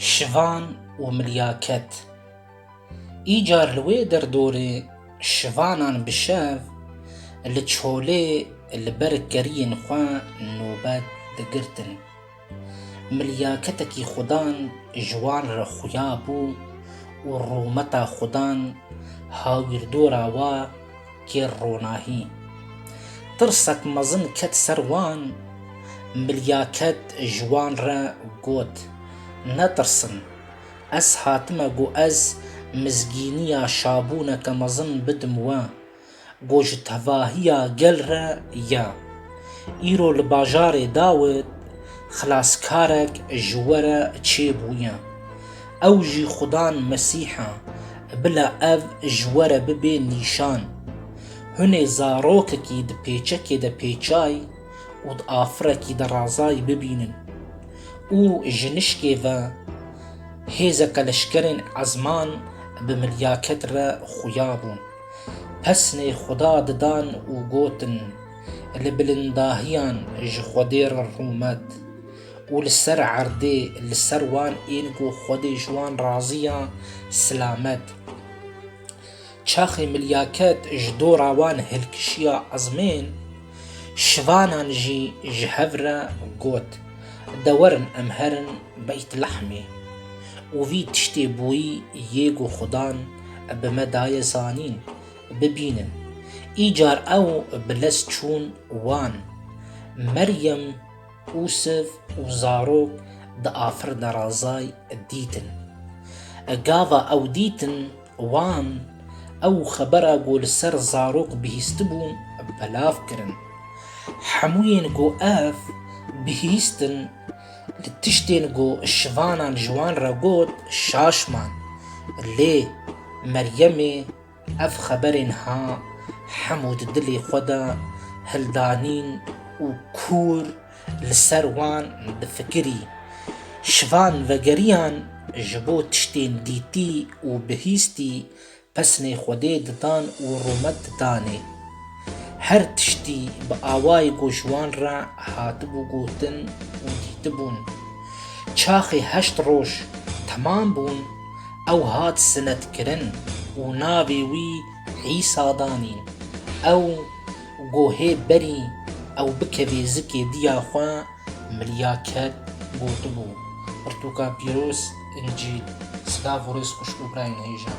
Şivan û milyaket Îcar li wê derdorê şivanan bi şev li çolê li ber keriyên xwe nobet digirtin. Milyaketekî xudan ji wan re xuya bû û rûmeta xudan hawîrdora we, Kêr ronahî. Tirsek mezin ket ser wan, milya ket ji wan re got, Netirsin, ez hatime ku ez mizgîniya şabûneke mezin bidim we, ku ji tevahiya gel re ye. Îro li bajarê Dawid xelaskarek ji we re çêbûye. Ew jî xudan Mesîh a. Bila ev ji we re bibe nîşan. Hunê zarokekî di pêçekê de pêçay û di afirekî de razay bibînin. Û ji nişkê ve hêzeke leşkerên ezman bi milyaket re xuya bûn. Pesnê xuda didan û gotin, Li bilindahiyan ji xwedê re rûmet. û li ser erdê li ser wan ên ku Xwedê ji wan razî ya, silamet. Çaxê Milyaket ji dora wan hilkişiya ezmên, şivanan jî ji hev re got, Dewerin em herin Beytlehmê. Û vî tiştê bûyî yê ku Xwedan bi me daye zanîn, bibînin. Îcar ew bi lez çûn wan, Meryem, Ûsiv û zarok di afirina razay dîtin. Gava ew dîtin wan ew xebera ku li ser zarok bihîstibû belav kirin. Hemûyên ku ev bihîstin li tiştên ku şivanan ji wan re got şaş man. Lê Meryemê Ev xeberên ha hemû di dilê xwe de hildanîn û kûr li ser wan difikirî. Şivan vegeriyan ji bo tiştên dîtî û bihîstî pesnê Xwedê didan û rûmet didanê. Her tiştî bi awayê ku ji wan re hatibû gotin û dîtibûn. Çaxê heşt roj temam bûn, ew hat sinetkirin û navê wî Îsa danîn. Ew gohê berî ew bikevê zikê diya xwe miliya ket gotibû, Pirtûka pîroz, Încîl, Silav û Rêz xwişk Ukraynhêjan.